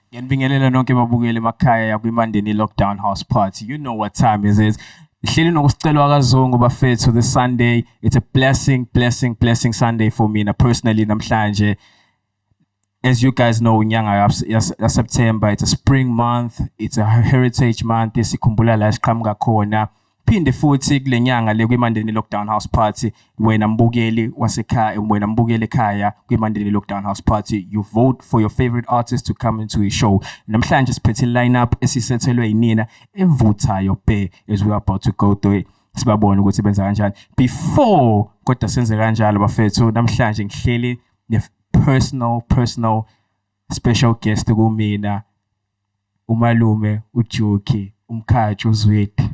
Ngiyanibingelela nonke babukeli emakhaya yakwimandeni lockdown house party. You know what time is it. Ngihleli nokusicelwa kazungu bafethu this Sunday. It's a blessing, blessing, blessing Sunday for me na personally namhlanje. As you guys know, nyanga ya September, it's a spring month, it's a heritage month, sikhumbula la siqhamuka khona. Phinde futhi kule nyanga le kwiMandeni Lockdown House Party wena mbukeli wasekhaya wena mbukeli ekhaya kwiMandeni Lockdown House Party you vote for your favorite artist to come into a show namhlanje siphethe lineup esisethelwe yinina evuthayo bhe as we are about to go through it sibabone ukuthi benza kanjani before kodwa senze kanjalo bafethu namhlanje ngihleli ne personal personal special guest kumina umalume uJuki umkhathi uZwidi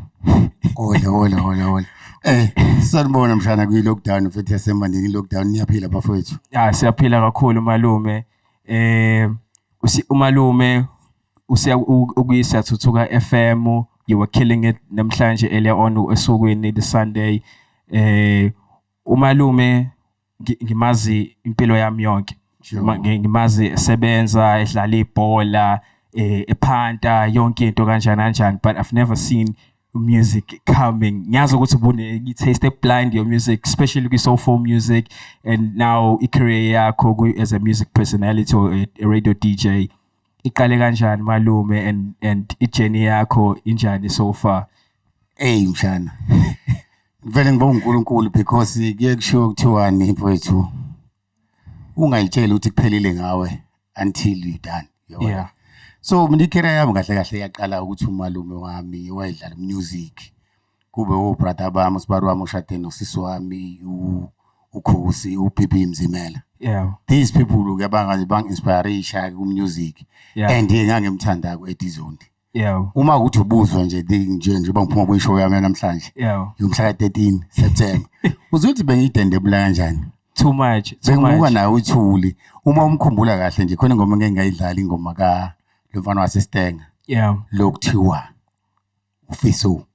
Hola hola hola hola Eh sanibona mshana kwi lockdown futhi yasemandini lockdown niyaphila bafowethu Ah siyaphila kakhulu malume eh umalume usiya ukuyisa thuthuka FM you were killing it namhlanje earlier on esukwini the Sunday eh umalume ngi- ngimazi impilo yami yonke Ngima- ngi- ngimazi esebenza edlala ibhola eh, ephanta yonke into kanjani kanjani but i've never seen music coming ngiyazi ukuthi bune-taste eblind your music especially kwi-soulful music and now i-career yakho ku- as a music personality or a, a radio dj iqale kanjani malume and and ijourney yakho injani so far hey mshana ngivele ngibonga uNkulunkulu because kuye kushiwo kuthiwani mfowethu ungayitsheli ukuthi kuphelile ngawe until you done yabona yeah. so mina icareer yami kahle kahle yaqala ukuthi umalume wami wayedlala music kube obrother bami usibari wami ushade nosisi wami ukhosi upp mzimela yeah these people ke bangaze bang inspire ishaya ku music yeah. and yena ngimthanda ku edizondi yeah uma ukuthi ubuzwa nje nje nje bangiphuma ku show yami namhlanje yeah yomhla 13 September uzothi bengidende bula kanjani too much too much bengibuka nawe uthuli uma umkhumbula kahle nje khona ngoma ngeke ngayidlala ingoma ka lomfana wasestenga yeah lokuthiwa ufiso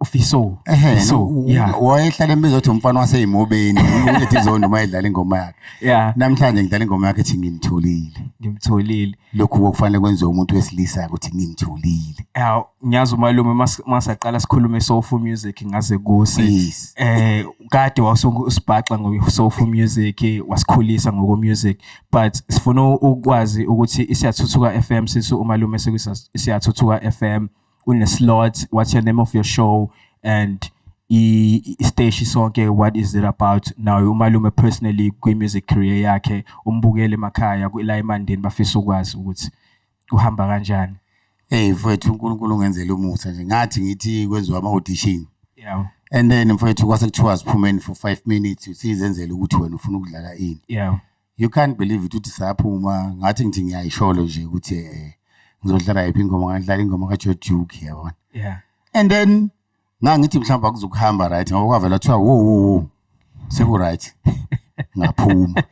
ufiso fiso yeah wayehlala embiza ukuthi umfana waseyimobeni uthi izondo uma edlala ingoma yakhe yeah namhlanje ngidlala ingoma yakhe ethi ngimtholile ngimtholile lokhu kokufanele kwenziwe umuntu wesilisa ukuthi ngimtholile yeah ngiyazi umalume masaqala sikhulume soulful music ngaze kusi eh kade wasibhaxa ngo soulful music wasikhulisa ngoko music but sifuna ukwazi ukuthi isiyathuthuka FM sisu umalume sekusiyathuthuka FM une slot what's your name of your show and isteshi sonke what is it about naye umalume personally kwi-music career yakhe umbukele emakhaya la emandeni bafisa ukwazi ukuthi kuhamba kanjani hey mfowethu unkulunkulu ungenzela umusa nje ngathi ngithi kwenziwa ama-audition yeah. and then mfowethu kwase kuthiwa siphumeni for five minutes usizenzela ukuthi wena ufuna ukudlala ini yeah. you can't believe it uthi saphuma ngathi ngithi ngiyayisholo nje ukuthi eh ngizodlala yiphi ingoma ngadlala ingoma kaJoe Duke yabona yeah and then ngangithi mhlawumbe akuzokuhamba right ngoba kwavela kuthiwa wo wo wo seku right ngaphuma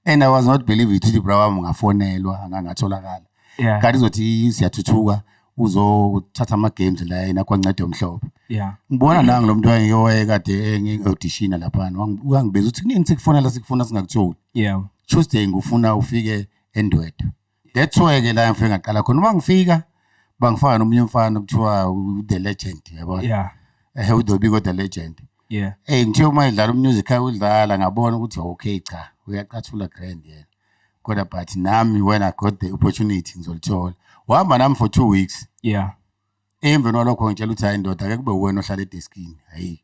and i was not believe it ukuthi bra wami ngafonelwa angangatholakala yeah kanti uzothi siyathuthuka uzothatha ama games la yena kwancede umhlobo yeah ngibona la ngilomuntu wayeyowaye kade engiaudition lapha wangibeza uthi kunini sikufona la sikufuna singakutholi yeah Tuesday ngifuna ufike endwedwe that's why ke la ngifike ngaqala khona uma ngifika bangifaka nomunye umfana kuthiwa the legend yabona yeah ehe udobiko the legend yeah eh ngithe uma idlala umusic ayidlala ngabona ukuthi okay cha uyacathula grand yena kodwa but nami when i got the opportunity ngizolithola wahamba nami for two weeks yeah emveni walokho ngitshela ukuthi hayi ndoda ke kube uwena ohlala edeskini hayi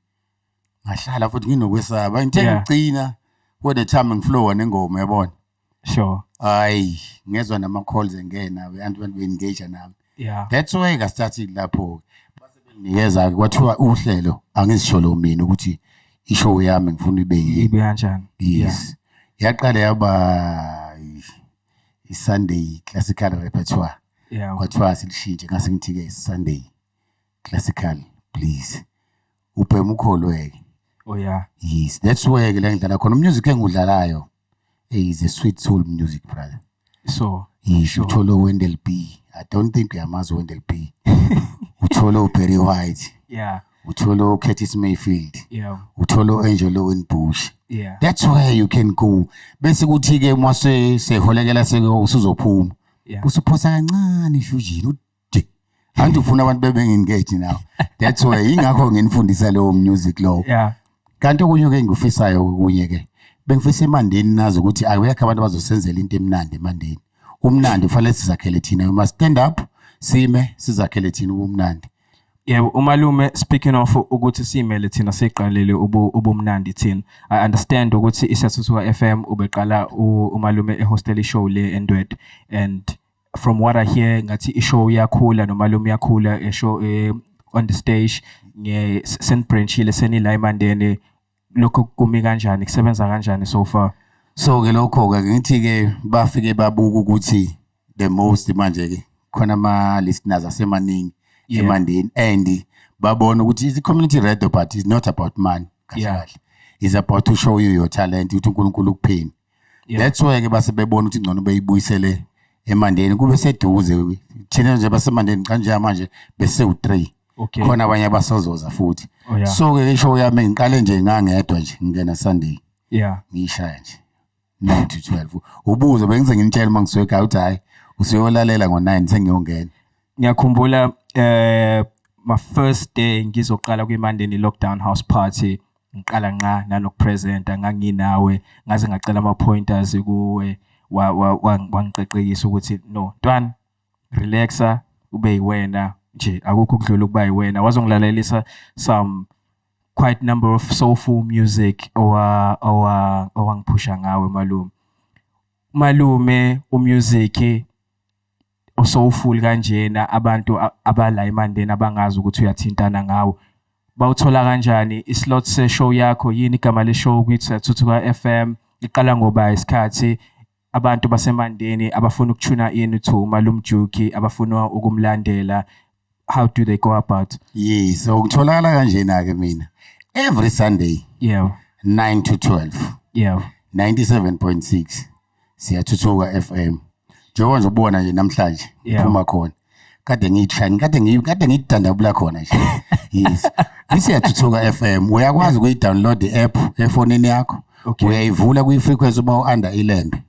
ngahlala futhi nginokwesaba ngithe Yeah. ngigcina when the time ngiflowa nengoma yabona sure hayi ngezwa nama-calls engena abantu abantu be-engage nami yeah that's why ngasithathile lapho nikeza kwathiwa uhlelo angizisholo mina ukuthi ishow yami ngifuna ibe yini ibe kanjani yes yaqala yaba i-Sunday classical repertoire yeah kwathiwa silishintshe ngase ngithi ke Sunday classical please ubhema ukholweke oh yeah yes that's why ke la ngidlala khona umusic engudlalayo hey is a sweet soul music brother so yisho uthole uWendell B i don't think uyamazi uWendell B uthole uBerry White yeah uthole uCurtis Mayfield yeah uthole uAngel Owen Bush yeah that's where you can go bese kuthi ke uma seholekela sekuzophuma yeah usuphosa kancane fusion anti ufuna abantu bebe engage now that's why ingakho nginifundisa leyo music lowo yeah kanti okunye ke ngikufisayo okunye ke bengifisa emandeni nazi ukuthi akuyakho abantu abazosenzela into emnandi emandeni umnandi ufanele sizakhele thina uma stand up sime sizakhele thina ubumnandi yebo umalume speaking of ukuthi simele thina siqalele ubumnandi thina i understand ukuthi isasuthuka FM ubeqala umalume ehostel show le endwed and from what I hear ngathi ishow iyakhula nomalume uyakhula eshow eh, on the stage nge senibranchile senila eMandeni lokho kumi kanjani kusebenza kanjani so far so ke lokho ke ngithi ke bafike babuka ukuthi the most manje ke khona ama listeners asemaningi yeah. eMandeni and babona ukuthi the community radio but is not about money kahle yeah. is about to show you your talent ukuthi uNkulunkulu ukuphini that's why ke base bebona ukuthi ngcono beyibuyisele emandeni kube seduze thina nje basemandeni kanje manje bese u3 okay khona abanye abasazoza futhi oh, yeah. so ke isho yami ngiqale nje ngangedwa nje ngingena sunday yeah ngishaya nje 9 to 12 ubuzo bengize nginitshela uma ngisweka uthi hayi usuyolalela ngo9 sengiyongena ngiyakhumbula eh my first day ngizoqala kwi Mandeni lockdown house party ngiqala nqa nanokupresenta nganginawe ngaze ngacela ama-pointers kuwe wangiqeqekisa ukuthi no ntwana relaxa ube yiwena nje akukho ukudlula ukuba yiwena wazongilalelisa some quite number of soulful music owangiphusha ngawe malume malume umusic usowufuli kanjena abantu abala eMandeni abangazi ukuthi uyathintana ngawo bawuthola kanjani islot seshow yakho yini igama leshow kwithi Thuthuka FM iqala ngoba isikhathi abantu basemandeni abafuna ukuthuna ini to umalumjuki abafuna ukumlandela how do they go about yes so ukutholakala kanjena ke mina every sunday yeah 9 to 12 yeah 97.6 siyathuthuka FM njengoba nje ubona nje namhlanje phuma khona kade ngiyishani kade ngi kade ngidandabula khona nje yes isiyathuthuka FM uyakwazi ukuyidownload the app efonini yakho uyayivula kwi frequency uma u under ilembe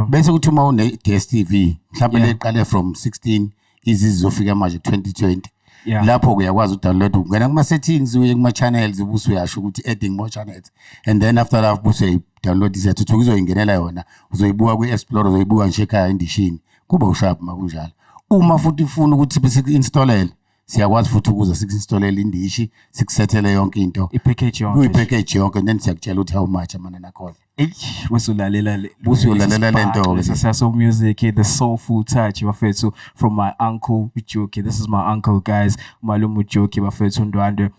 bese kuthi uma une DStv mhlawumbe leqale from 16 izizofika manje 2020 yeah. lapho uyakwazi udownload ungena kuma settings uye kuma channels ubuso uyasho ukuthi adding more channels and then after that ubuso uyayidownload iyathuthuka uzoyingenela yona uzoyibuka kwi explore uzoyibuka nje ekhaya endishini kuba ushap makunjalo uma futhi ufuna ukuthi bese installele siyakwazi futhi ukuza siku-installele indishi sikusethele yonke into i-package yonke kuyi-package yonke and then siyakutshela ukuthi how much amanani akhona eish wesulalela le Usuyolalela le nto ke. successful music the soulful touch bafethu from my uncle ujoki this is my uncle guys umalume ujoki bafethu undwandwe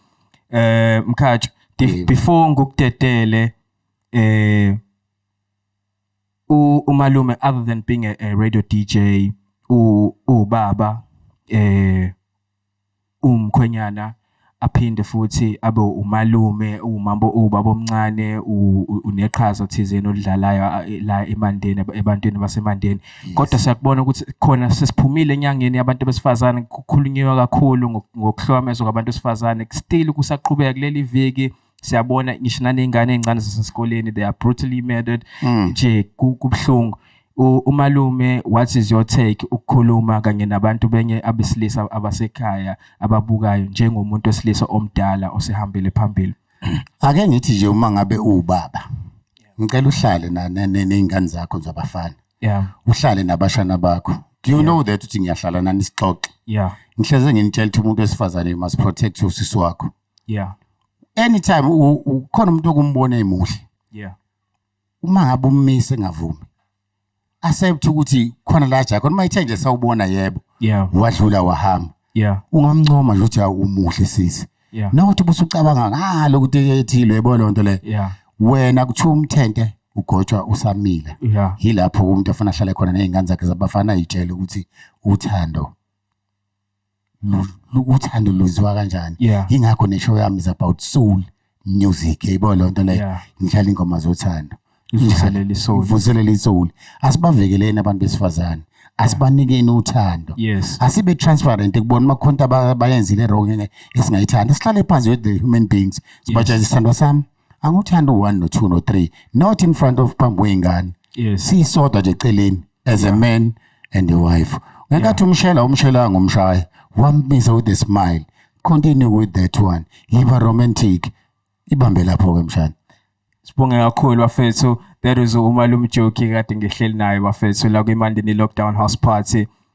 eh mkhatsho di- Yebo. before ngikudedele eh u- umalume other than being a, a radio dj u ubaba eh uwumkhwenyana aphinde futhi abe umalume uwumambo ubaba omncane uneqhaza thizeni olidlalayo la eMandeni ebantwini baseMandeni kodwa siyakubona ukuthi khona sesiphumile enyangeni yabantu besifazane kukhulunyiwe kakhulu ngokuhlomezwa kwabantu besifazane still kusaqhubeka kuleli viki siyabona ngisho naney'ngane ey'ncane zasesikoleni they are brutally murdered mm. nje kubuhlungu umalume what is your take ukukhuluma kanye nabantu benye abesilisa abasekhaya ababukayo njengomuntu wesilisa omdala osehambele phambili ake ngithi nje uma ngabe uwubaba ngicela uhlale ney'ngane zakho zabafana yeah. uhlale nabashana bakho do you yeah. know that uthi ngiyahlala nani sixoxe yeah. ngihleze nginitshela ukuthi umuntu wesifazane you must protect usisi wakho yeah anytime ukhona umuntu okumbona emuhle yeah uma ngabe ummise engavumi accept ukuthi khona la jakhona uma ithe nje sawubona yebo yeah wadlula wahamba yeah ungamncoma nje ukuthi umuhle sisi yeah nokuthi busucabanga ngalo ukuthi ethile yebo lonto le yeah wena kuthiwa umthente ugotshwa usamile yeah yilapho umuntu afuna ahlale khona nezingane zakhe zabafana ayitshele ukuthi uthando uthando luziwa kanjani yeah. ingakho neshow yami is about soul music yayibona loo nto leyo yeah. ngidlala ingoma zothando ivuselele isoul ivuselele isoul asibavekeleni abantu besifazane asibanikeni uthando yes asibe transparent kubona uma khonta bayenzile wrong esingayithanda sihlale phansi with the human beings sibatshela isithandwa sami anguthanda u-one no-two no-three not in front of phambi kwey'ngane yes siyisodwa nje eceleni as a man and a wife ngenkathi umshela umshela ngomshaya wambisa with a smile continue with that one yiba romantic ibambe lapho-ke mshana sibonge kakhulu bafethu that is umalume joki kade ngihleli naye bafethu la kwimandini lockdown house party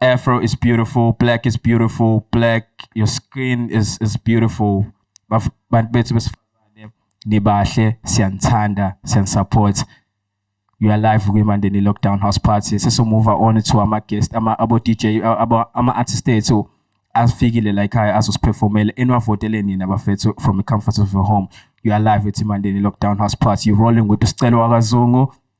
Afro is beautiful, black is beautiful, black, your skin is, is beautiful. Baf- Bantu bethu besifazane nibahle, siyanithanda, siyanisupport. You are live kwiMandeni Lockdown House Party. Sesomove on to ama guest, ama abo DJ, a- abo ama artists ethu asifikile la ekhaya azosiphefomela eniwavotele nina bafethu from the comfort of your home. You are live with iMandeni Lockdown House Party. You rolling with uScelo wakazungu.